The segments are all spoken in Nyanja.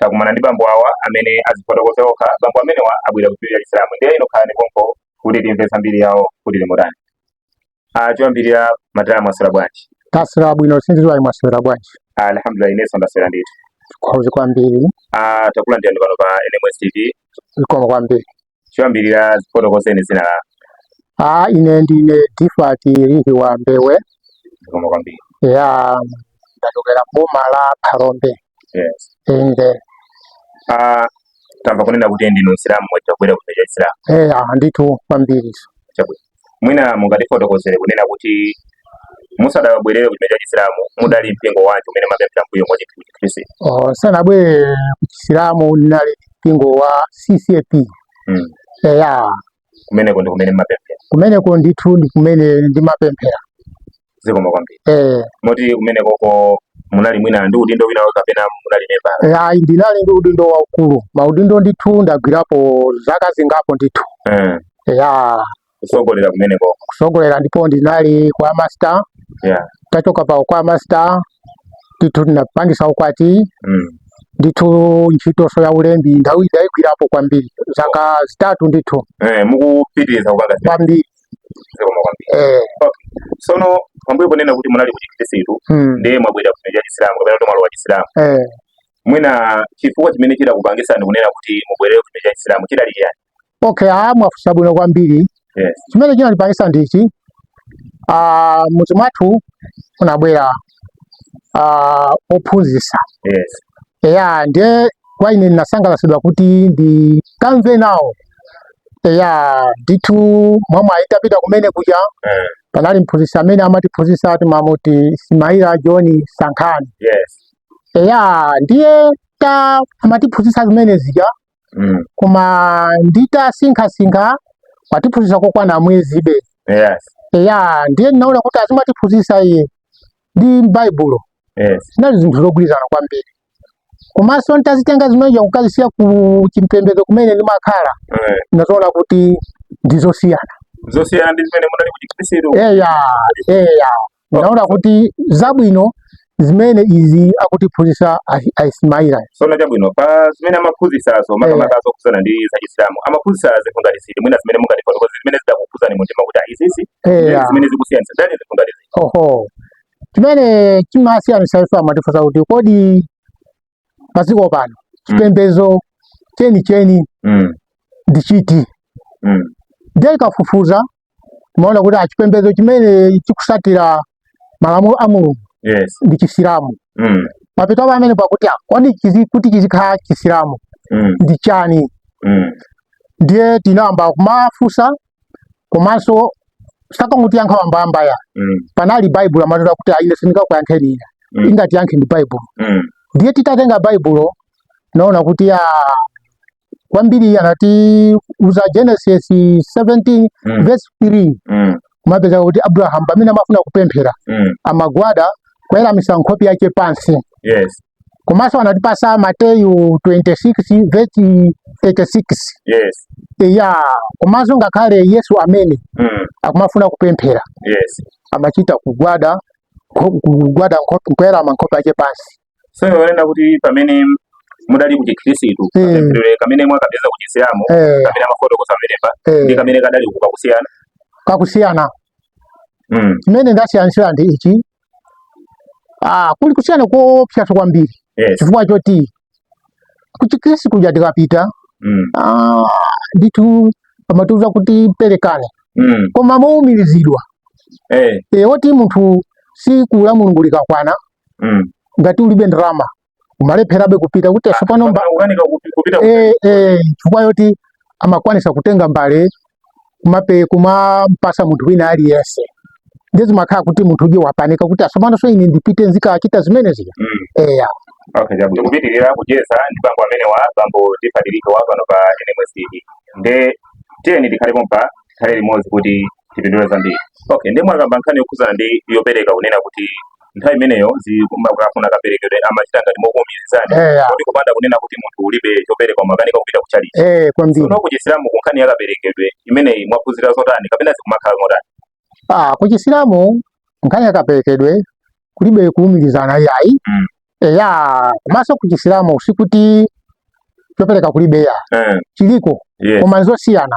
takumana ndi bambo awa amene azifotokoza okha bambo amenewa abwera kuchipembedzo cha chisilamu ndiye inu khalani konko kuti timve zambiri yawo kuti ili motani ah, choyambirira madala mwaswera bwanji taswera bwino sindidziwa ayi mwaswera bwanji ah, alhamdulillah inenso ndaswera ndithu zikomo kwambiri ah, takulandirani pano pa nms tv zikomo kwambiri choyambirira dzifotokozeni dzina lanu Ah, ine ndine Difati Rihi wa Mbewe zikomo kwambiri ya ndachokera m'boma la Phalombe yes inde ah tamva kunena kuti ndinu msilamu mwachita kubwera kuchipembedzo cha chisilamu eh ah, ndithu kwambiri chabwino mwina mungatifotokozere kunena kuti musadabwerere ku chipembedzo cha chisilamu mudali mpingo wanji umene mumapemphera mbuyomu wa chikhristu Oh, ndisanabwere ku chisilamu ndinali mpingo wa ccap Mm. eya kumeneko ndi kumene mumapemphera kumeneko ndithu ndi kumene ndimapemphera zikomo kwambiri eh moti kumenekoko munali mwina ndi udindo wina wake kapena munali memba eh, ayi ndinali ndi udindo waukulu maudindo ndithu ndagwirapo zaka zingapo ndithu eh ya kutsogolera kumenekoko kutsogolera ndipo ndinali kwaya master yeah nditachoka pa kwaya master ndithu ndinapangitsa ukwati mm. ndithu ntchitonso ya ulembi ndawi ndaigwirapo kwambiri zaka zitatu ndithu eh mukupitiriza kukaka kwambiri zikomo kwambiri eh sono pambuyo ponena kuti munali kuchikristu mm, ndiye mwabwera ku chipembedzo cha chisilamu kapena kuti mwalowa chisilamu eh mwina chifukwa chimene chidakupangitsani kunena kuti mubwerere ku chipembedzo cha chisilamu chidali chiyani okay ah mwafunsa bwino kwambiri yes chimene chinandipangitsa ndichi ah mudzi mwathu kunabwera ah, ophunzitsa yes eya ndiye kwa ine ndinasangalatsidwa kuti ndikamve nawo eya ndithu mwamwayi titapita kumene kuja Eh, panali mphunzitsi amene amatiphunzitsa ati mamuti ismaila john sankhani yes eya ndiye ta amatiphunzitsa zimene zija mm. koma nditasinkhasinkha watiphunzitsa kokwana mwezibe yes. ya ndiye ndinaona kuti zimene amatiphunzitsa iye ndi m'baibulo yes. zinali zinthu zogwirizana kwambiri komanso nditazitenga zimene zija kukazisiya ku chipembedzo kumene ndimakhala eh. ndinaziona kuti ndizosiyana zosiyana ndi zimene munali kuchikhristu eya eya ndaona kuti zabwino ndi zimenezi akutiphunzitsa ahi- a ismaila sono chabwino pa zimene amaphunzitsazo makamaka zokhudzana ndi zachisilamu amaphunzitsa zinthu ngati ziti mwina zimene mungatifotokoze zimene zidakukhudzani mu mtima kuti ah, izizi eya zimene zikusiyanitsa ndi zinthu ngati ziti oho chimene chimasiyanitsa ife amatifunsa kuti kodi padziko pano chipembedzo chenicheni mm. ndi chiti mm. ndiye tikafufuza timaona kuti a chipembedzo chimene chikusatira malamulo a mulungu yes. ndi chisilamu mm. mapeto pamene pakuti kodi kuti chizikhala chisilamu mm. ndi chani mm. ndiye tinayamba kumafunsa komanso sakangutiyankha wambawamba ya mm. panali baibulo amatota kuti a ine sindingakuyankheni ine mm. ingatiyankhe ndi baibulo mm. ndiye titatenga baibulo tinaona kuti ya ah, kwambiri anatiuza Genesis 17 mm. verse 3 mm. timapeza kuti Abraham pamene amafuna kupemphera mm. amagwada kuweramisa nkhope yake pansi yes. komanso anatipasa mateyu 26 vesi 36 yes eya komanso ngakhale yesu amene mm. akumafuna kupemphera yes amachita kugwada nkho- kugwada nkho- kuwerama nkhope yake pansi so yolenda kuti pamene mudali ku chikhristu Mm. kapemphero kamene mwakapeza ku chisilamu Eh, kamene amafotokoza pamenepa eh, ndi kamene kadali kuka kusiyana kakusiyana mm. chimene ndasiyanitsira ndi ichi ah, kuli kusiyana koopsa kwambiri yes. chifukwa choti kuchikristu kuja tikapita mm. ah, ndithu amatiuza kuti perekani mm. koma moumirizidwa hey. Eh. e, eh, woti munthu siku la mulungu likakwana mm. ngati ulibe ndalama umalepherabe kupita kuti asopano mba- Mpaka ukanika kupi- kupita ku- eh, eh, chifukwa yoti amakwanisa kutenga mbale kumape kumampasa munthu wina aliyense ndiye zimakhala kuti munthu uja wapanika kuti asopano so ine ndipite nzikachita zimene zija Mm. eya Okay, chabwino. Tikupitirira kucheza ndi bambo amene wa bambo tifatirike wa pano pa NMS TV. Nde tiyeni tikhale pompa tikhale limodzi kuti tipindule zambiri. Okay, nde mwakamba nkhani yokhudzana ndi yopereka kunena kuti nthawi imeneyo zimakafuna kaperekedwe amachita ngati mokuumirizani eh, kuti kupanda kunena kuti munthu ulibe chopereka umakanika kupita ku chalichi eh, kwambiri sono kuchisilamu ku nkhani ya kaperekedwe imeneyi mwaphunzira zotani kapena zikumakhala motani ah kuchisilamu nkhani ya kaperekedwe kulibe kuumirizana yayi mm. eya eh, komanso kuchisilamu sikuti chopereka kulibe ya mm. chiliko yeah. koma nzosiyana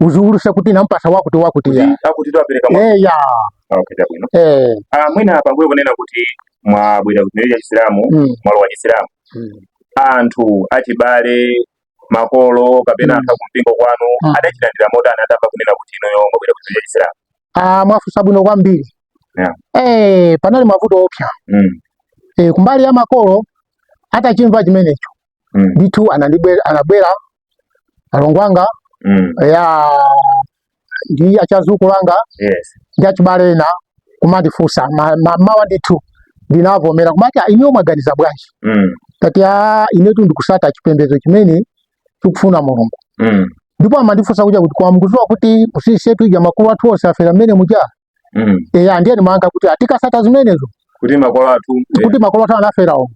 uziwuluse kuti nampasa wakuti wakuti ya akuti apereka mwa eya okay chabwino eh ah mwina pambuyo kunena kuti mwabwera kuchipembedzo cha chisilamu Mm. mwalowa chisilamu Mm. anthu achibale makolo kapena Mm. anthu akumpingo kwanu Mm. adachilandira motani atamva kunena kuti inuyo mwabwera kuchipembedzo cha chisilamu ah mwafusa bwino kwambiri Yeah. eh panali mavuto oopsa mm. eh kumbali ya makolo atachimva chimenecho mm. ndithu anandibwe- anabwera alongo anga Mm. ya ndi adzukulu anga Yes. ndi achibale ena kumandifunsa ma- ma- mmawa ndithu ndinavomera kumati "Ah, inuyo mwaganiza bwanji Mm. tati a inetu ndikusata chipembedzo chimene chikufuna mulungu Mm. ndipo amandifunsa kuja kuti koma mukuziwa kuti usisetu ija makolo athu onse afera momwe muja mm. eya ndiye ndimanga kuti tikasata zimenezo kuti makolo athu eh. kuti makolo athu anaferawo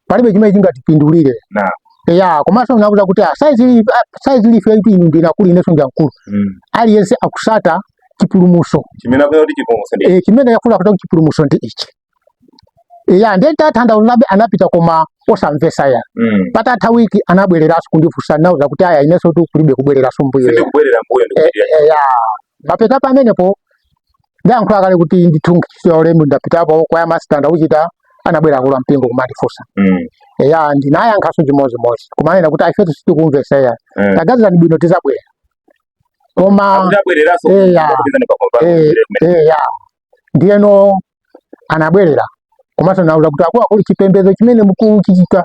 palibe chimene chingatipindulire nah. eya komanso ndinauza kuti ah, saizi ah, life yaitu inu ndinu akulu inenso ndi wamkulu mm. aliyense akusata chipulumuso chimene akufuna kuti chipulumuso ndi ichi ya ndiye nditatanthauzabe anapita koma osamvesa ya mm. patatha wiki anabwereranso kundifunsa nauza kuti aya inenso tu kulibe kubwereranso mbuyo eh, eh, ya mapeta pamenepo ndayankhula kale kuti ndithungichiwa ulemu ndapitapo kwa yamasitanda uchita anabwera akulu a mpingo kumandifunsa mm. ya ndinayankhanso chimodzimodzi kumanena kuti a ifetu sitikumvesa ya mm. taganizirani bwino tizabwera koma eya eya ndiyeno anabwerera komanso nauza kuti akuluakulu chipembedzo chimene mukuchichita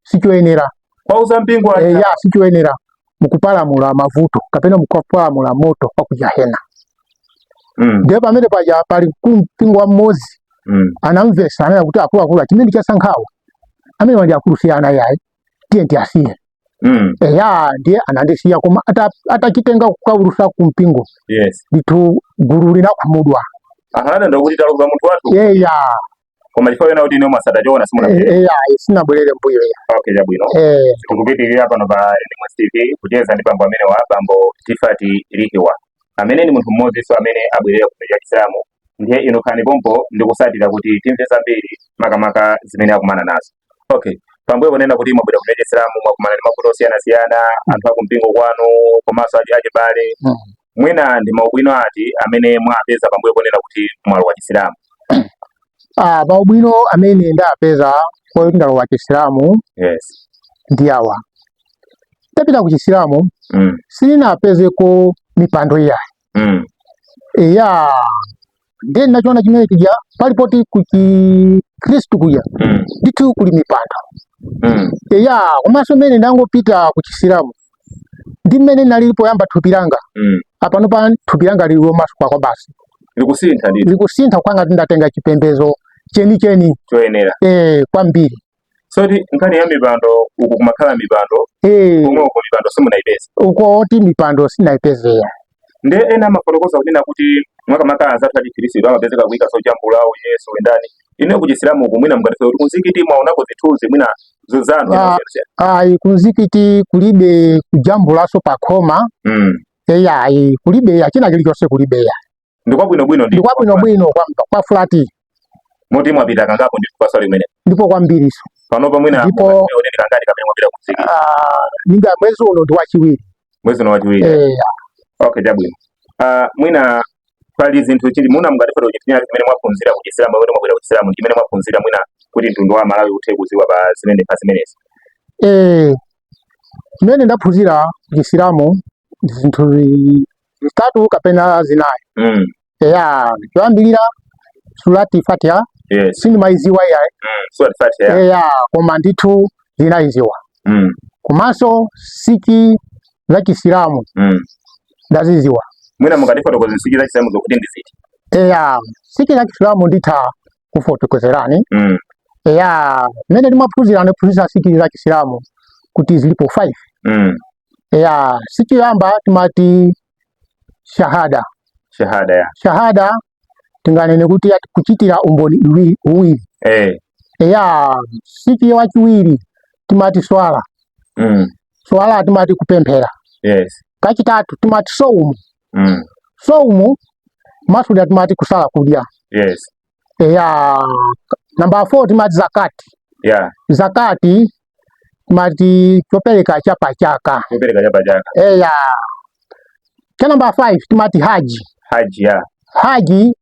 sichoyenera pauza mpingo e, ya sichoyenera mukupalamula mavuto kapena mukupalamula moto wa ku jahena mm. ndiye pamene paja pali mkulu wa mpingo mmodzi mm. anamvesa ananena kuti akuluakulu chimene asankhawa amenewa ndi akulu si ana yayi tiyeni tiwasiye Mm. eya ndiye anandisiya koma ata- atachitenga kukaulutsa ku mpingo Yes. ndithu gulu linakhumudwa Aha, ananena kuti taluza munthu wathu. eya Koma chifukwa choona kuti inu mwasata choona simuna. e- eya sinabwerere mbuyo eya Okay, chabwino. Eh, Tikupitirira pano pa NMS TV kucheza ndi bambo amenewa bambo Tifati Lihiwa. Amene ndi munthu mmodzinso amene abwerera ku chipembedzo cha Chisilamu ndiye inu khalani pompo ndikutsatira kuti timve zambiri makamaka zimene akumana nazo okay pambuyo ponena kuti mwabwera ku chipembedzo cha chisilamu mwakumana ndi mavuto osiyanasiyana anthu akumpingo kwanu komanso achi achibale mm. mwina ndi maubwino ati amene mwapeza pambuyo ponena kuti mwalowa chisilamu ah, maubwino amene ndapeza poti ndalowa chisilamu yes. ndi awa nditapita ku chisilamu mm. sindinapezeko mipando iyayi mm. ya ndiye ndinachiona chimene chija pali poti ku chikhristu kuja mm. ndithu kuli mipando mm. ya komanso mmene ndangopita kuchisilamu ndi mmene linalili poyamba thupi langa mm. apanopa thupi langa lili lomasuka kwabasi likusintha likusintha kukhala ngati ndatenga chipembezo cheni cheni choyenera eh kwambiri soti nkhani ya mipando uku kumakhala mipando eh. komwe uko mipando simunaipeza uko oti mipando sinayipeze eya nde ena amafotokoza kunena kuti makamaka anzathu achikhirisitu amapezeka kuika zojambula Yesu ndani ineyo kuchisilamu uku mwina mungatiuze kuti kunzikiti mwaonako zithunzi mwina za anthu ah, ayi kunzikiti kulibe kujambulaso pakhoma mm. eya ayi kulibe china chilichonse kulibe eya Ndi kwabwino bwino ndi. Ndi kwabwino bwino kwa kwa flat. Moti mwapita kangapo ndi kuswali kumene. Ndipo kwambiri so. Pano pa mwina ndipo ndi kangati kapena mwapita kunzikiti. Ah, ninga mwezi uno ndi wachiwiri. Mwezi uno wachiwiri. Eh. Okay, chabwino. Ah, mwina pali zinthu chili muna mungatifotokozere zimene mwaphunzira ku Chisilamu kuti mwabwera ku Chisilamu chimene mwaphunzira mwina kuti mtundu wa Malawi uthe kuziwa pa zimene pa zimenezi eh zimene ndaphunzira ku Chisilamu zinthu zi- zitatu kapena zinayi Mm. eya choyambirira surati fatiha Yes. sindimayiziwa iyayi Mm. Sura Fatiha. eya koma ndithu ndinayiziwa Mm. komanso nsichi za chisilamu Mm. ndaziziwa Mwina mungatifotokoze nsichi za chisilamu zokuti ndi ziti. eya nsichi za chisilamu nditha kufotokozerani Mm. eya mmene ndimaphunzira ndinaphunzira nsichi za chisilamu kuti zilipo 5 Mm. eya nsichi yoyamba timati shahada shahada eya shahada tinganene kuti ati kuchitira umboni iwi- uwiri eh eya nsichi yachiwiri timati swala mm swala timati kupemphera yes kachitatu timati soumu mm soumu kumasulira timati kusala kudya yes eya namba 4 timati zakati yeah. zakati timati chopereka cha pachaka chopereka cha pachaka eya cha namba 5 timati haji haji ya haji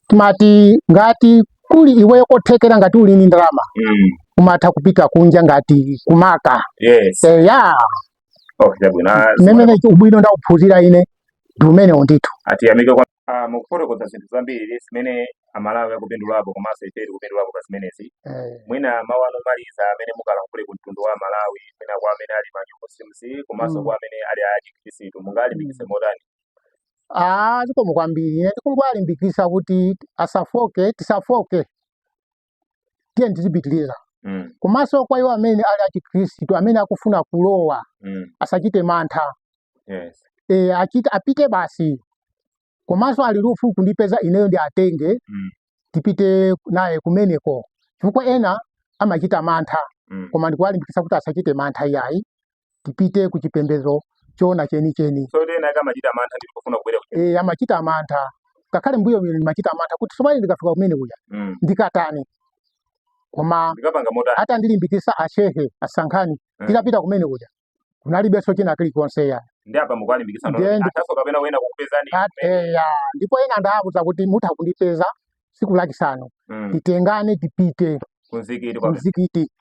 timati ngati kuli iweyo kothekera ngati uli ni ndalama mm. umatha kupita kunja ngati kumaka yes eya okay chabwino Ah, umene ubwino ndauphunzira ine ndi umenewo ndithu atiyamike kwa Ah, mukufotokoza zinthu zambiri zimene amalawi akupindulapo komanso ife tikupindulapo pa zimenezi Eh, mwina mawu anu omaliza amene mungalankhule ku mtundu wa malawi mwina kwa amene ali ma muslims komanso Mm. kwa amene ali achikhristu mungalimbikitse motani ah zikomo kwambiri ine ndikungowalimbikitsa kuti asafoke tisafoke tiyeni tizipitiriza mm. komanso kwa iwo amene ali achikhristu amene akufuna kulowa mm. asachite mantha yes. e, achite, apite basi komanso ali ndi ufulu kundipeza ineyo ndiwatenge mm. tipite naye kumeneko chifukwa ena amachita mantha mm. koma ndikuwalimbikitsa kuti asachite mantha iyayi tipite ku chipembedzo choona chenicheni so ena ake amachita mantha ndipo kufuna kubwera ku e, amachita mantha ngakhale mbuyo mine ndimachita mantha kuti so mmene ndikafika kumene kuja mm. ndikatani koma ndikapanga motani atandilimbikitsa ashehe asankhani mm. ndinapita kumene kuja kunalibenso china chilichonse ya ndiye apa mukuwalimbikitsa Ndiye ndi- ataso kapena wena kukupezani At- eya ndipo ena ndawauza kuti mutha kundipeza siku lachisanu mm. titengane tipite kumzikiti kumzikiti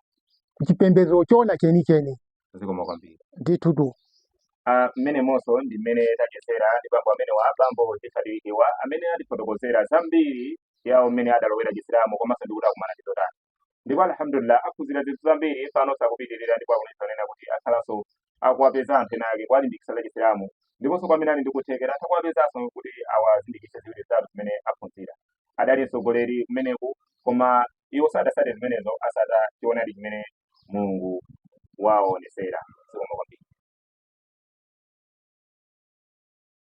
kuchipembedzo choona chenicheni zikomo kwambiri ndithu tu ah, mmenemonso ndi mmene tachezera ndi bambo amenewa bambo tisadilikiwa amene atifotokozera zambiri yawo mmene adalowera chisilamu komanso ndikuti akumana ndi zotani ndipo alhamdulillah aphunzira zinthu zambiri pano zakupitirira ndipo akuonetsa kunena kuti akhalanso akuwapeza anthu ena ake kuwalimbikitsa za chisilamu ndiponso kwa amene ali ndi kuthekera atha kuwapezanso kuti awazindikitse ziwiri zitatu zimene aphunzira adali mtsogoleri kumeneku koma iwo sadatsate zimenezo atsata choonadi chimene mulungu wawaonetsera zikomo kwambiri